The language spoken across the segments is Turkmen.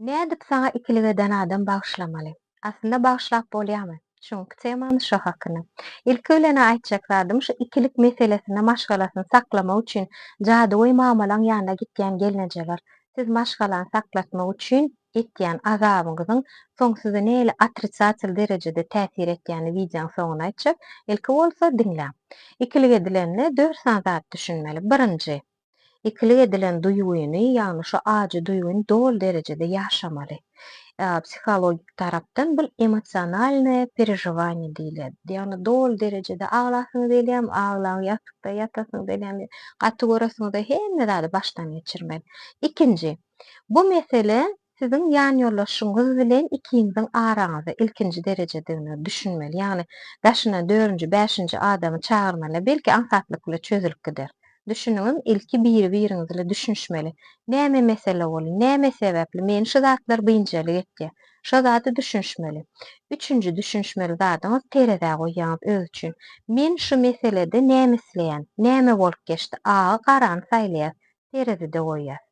Nädip saňa ikilik eden adam bagyşlamaly? Aslynda bagyşlap bolýamy? Çüňki temamyz şo hakynda. Ilki bilen-ä aýtjak zadym şu ikilik meselesinde maşgalasyny saklamak üçin jadygöý mamalaň ýanyna gitýän gelnejeler, siz maşgalany saklatmak üçin etýän azabyňyzyň soň size nähili otrisatel derejede täsir etýänini wideoň soňunda aýtjak, ilki bolsa diňläň. Ikilik edilende dört sany zat düşünmeli. Birinji. Ikilik edilen duýgyny, ýagny şu ajy duýgyny doly derejede ýaşamaly. Psihologik tarapdan bul emosionalnaýe perežowaniýe diýilýär. Ýagny doly derejede aglasyňyz gelýärmi, aglaň, ýasykda ýatasyňyz gelýärmi, gaty göresiňizde hemme zady başdan geçirmeli. Ikinji, bu mesele Siziň ýanýoldaşyňyz bilen ikiňiziň araňyzda ilkinji derejedigine düşünmeli, ýagny daşyna dördünji, bäşinji adamy çagyrmaly, belki aňsatlyk bile çözülip gider. Düşüniňiz, ilki biri-biriňiz ile düşünişmeli. Näme mesele ol, näme sebäpli meni şu zatlar biynjalyk etýär? Şo zada düşünişmeli. Üçünji düşünişmeli zadyňyz terezä goýýaňyz öz üçin. Men şu meselede näme isleýän? Näme bolup geçdi? Agy garany saýlaýas. terezide goýýas.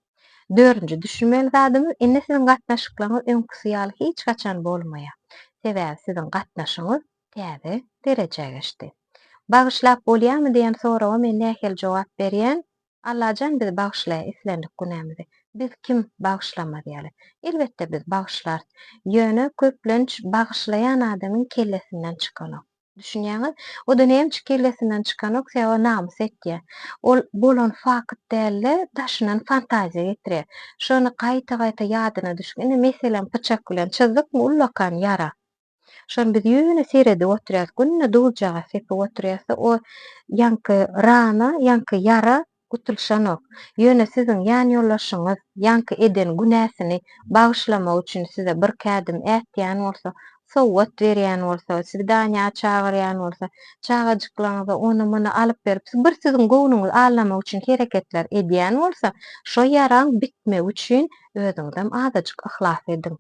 Dördünji düşünmeli zadymyz, indi siziň gatnaşyklaryňyz öňküsi ýaly hiç haçan bolmaýar. Sebäbi siziň gatnaşygyňyz täze derejä geçdi. Bagyşlap bolýarmy diýen soraga men nähili jogap berýän? Allajan bizi bagyşlaýar islendik günämizi. Biz kim bagyşlamaz ýaly? Elbetde biz bagyşlarys. Ýöne köplenç bagyşlaýan adamyň kellesinden çykanok. Düşünýäňiz? O-da nämçe kellesinden çykanok sebäbi namys etýä. Ol bolan fakt däl-de, daşyndan fantaziýa getirýä. Şony gaýta-gaýta ýadyna düşüp, indi meselem pyçak bilen çyzdykmy ullakan ýara. Şony biz ýöne seredip oturýas, günde duzjagaz sepip oturýasda o ýaňky rana, ýaňky ýara Gutulyşanok. Ýöne siziň ýanýoldaşyňyz ýaňky eden günäsini bagyşlamak üçin size bir kädim ätýän bolsa, sowgat berýän bolsa, sizi Daniýa çagyrýan bolsa, çagajyklaryňyza ony-muny alyp berip, bir siziň göwnüňizi allamak üçin hereketler edýän bolsa, şo ýaraň bitmegi üçin özüňizem azajyk yhlas ediň.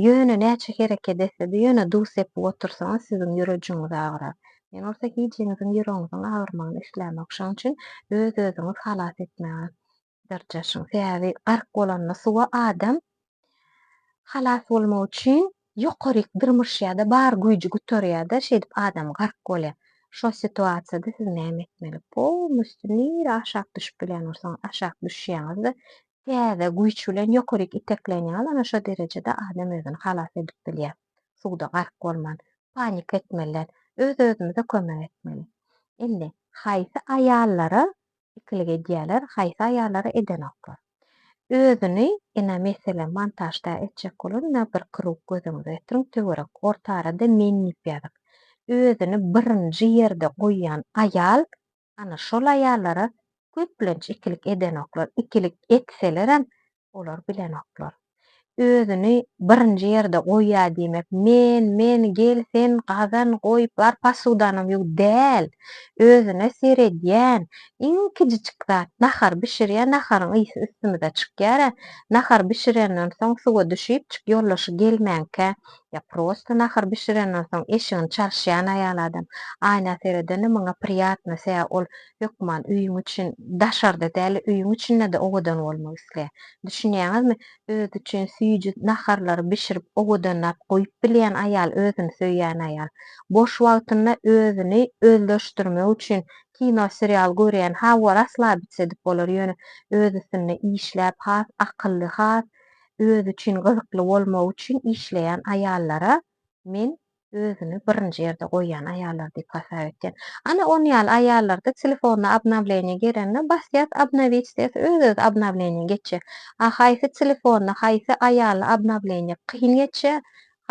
Ýöne näçe hereket etse-de, ýöne duz sepip otursaňyz, siziň ýürejiňiz agyrar. Men bolsa hijiňiziň ýüregiňiziň agyrmagyny islämok. Şonuň üçin öz-özüňizi halas etmäge dyrjaşyň. Sebäbi gark bolanda suwa adam halas bolmak üçin ýokaryk dyrmyşýar-da, bar güýji gutarýar-da, şeýdip adam gark bolýar. Şol situasiýada siz näme etmeli? Polnusty nire aşak düşüp bilen bolsaňyz, aşak düşýäňiz-de, Täze güýç bilen ýokaryk itekleýin ýaly ana şo derejede adam özüni halas edip bilýär. Suwda gark bolman, panika etmeliler, öz-özümize kömek etmeli. Indi, haýsy aýallara ikilik edýäler, haýsy aýallara edenoklar. Özüni, ina, meselem, montažda etjek bolanda bir krug gözüňize getiriň, töwerek, orta arada men diýip ýazyň. Özüni birinji ýerde goýýan aýal Ana, şol aýallara köplenç ikilik edenoklar, ikilik etselerem, olar bilenoklar. Özüni birinji ýerde goýýar diýmek, men, men, gel sen gazan, goý, bar posudanam ýuw, däl. Özüne seredýän, iň kiçijik zat, nahar bişirýär, naharyň ysy üstümize çykýar-a, nahar bişirenden soň suwa düşüpjik, ýoldaşy gelmänkä, Ýa prosta nahar bişirenden soň eşigini çalyşýan aýal adam. Aýna seredende maňa priýatno, sä ol hökman öýüň üçin daşarda däl-de öýüň içinde-de owadan bolmak isleýär. Düşünýäňizmi? Özi üçin süýji naharlary bişirip owadanlap goýup bilýän aýal özüni söýýän aýal. Boş wagtynda özüni özleşdirmek üçin kino serial görýän hawa raslabiç edip bolar ýöne öz üstünde işläp has akylly has Özi üçin gyzykly bolmagy üçin işleýän aýallara men özüni birinji ýerde goýýan aýallar diýip hasap etýän. Ana on ýaly aýallarda telefonyna obnowleniýe gelende basýas obnowit diýes öz özi obnowleniýe geçýä. A haýsy telefonyna haýsy aýaly obnowleniýe kyn geçýä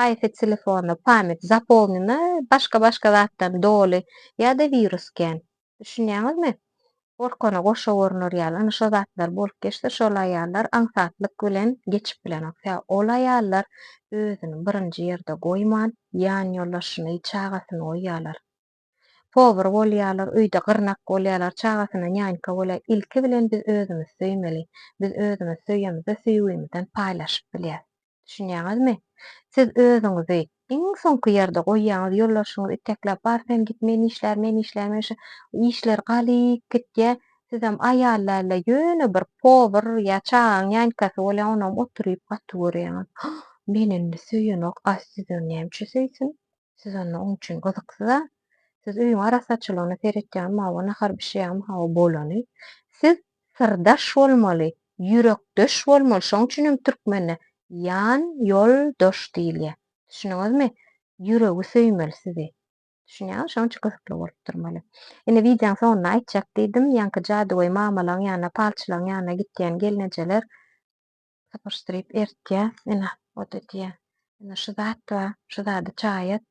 haýsy telefonyna pamyt zapolnyna başga başga zatdan doly ýada wirus kän. Düşünýäňizmi? Gorkana goşa gorner ýaly. Ine şo zatlar bolup geçse, şol aýallar aňsatlyk bilen geçip bilenok. Tä ol aýallar özüni birinji ýerde goýman, ýanýoldaşyny, çagasyny goýýarlar. Powyr bolýarlar, öýde gyrnak bolýarlar, çagasyna nýanýka bolýar. Ilki bilen biz özümizi söýmeli. Biz özümizi söýemizde söýgimizden paýlaşyp bilýäs. Düşünýäňizmi? Siz özüňizi iň soňky ýerde goýýaňyz, ýoldaşyňyz itekläp bar sen git men işlär, men işlär, men şu işler galyp gitýä, sizem aýallärle ýöne bir powar ýa çagaň ýankasy bolýa onam oturyp gaty görýäňiz. Hah, meni indi söýenok a sizi näme üçin söýsün? Siz onda oň üçin gyzyksyz-a. Siz öýüň arassaçylygyna seretýäňmi, hawa, nahar bişirýäňmi, hawa, bolany. Siz syrdaş bolmaly, ýürekdeş bolmaly, şoň üçin hem türkmende ýan, ýol, doş diýilýär. Düşündiňizmi? Ýüregi söýmeli sizi. Düşünýäňizmi? Şoň üçin gyzykly bolup durmaly. Ine, wideoň soňunda aýtjak diýdim, ýaňky jadygöý mamalaň ýanyna, palçylaň ýanyna gitýän gelnejeler sypyşdyryp eritýär. Ine, ot edýär. Ine, şu zat bar, şu zady çaý et,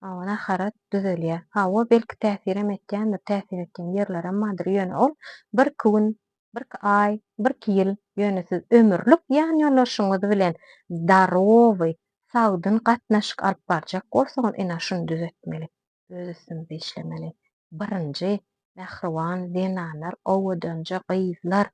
awa, nahar et, düzelýär. Hawa, belki täsirem etýändir, täsir etýän ýerlerem bardyr, ýöne ol birki gün, birki aý, birki ýyl, ýöne siz ömürlik ýanýoldaşyňyz bilen zdarowy, sagdyn gatnaşyk alyp barjak bolsaňyz, ine, şuny düzetmeli, öz üstüňize işlemeli. Birinji, mähriban zenanlar, owadanja gyzlar,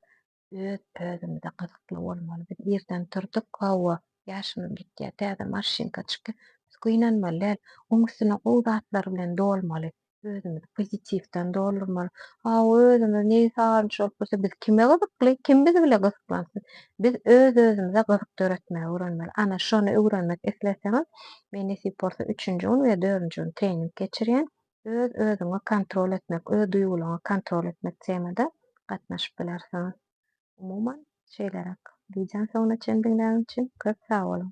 Öz özümize gyzykly bolmaly. Biz irden turduk, hawa, ýaşymyz gitýär, täze maşynka çykýa. Biz gynanmaly däl. Oň üstüne gowy zatlar bilen dolmaly. Özümizi pozitiwden doldurmaly. Hawa, özümiz neýi sazanç bolup dursa, biz kime gyzykly, kim biz bile gyzyklansyn. Biz öz özümize gyzyk döretmegi öwrenmeli. Ana, şony öwrenmek isleseňiz, men nesip bolsa üçünji gün we dördünji gün trening geçirýän. Öz-özüňi kontrol etmek, öz duýgularyňy kontrol etmek temada gatnaşyp bilersiňiz. Umuman, şeýleräk. Wideony soňuna çen diňläniň üçin köp sag boluň!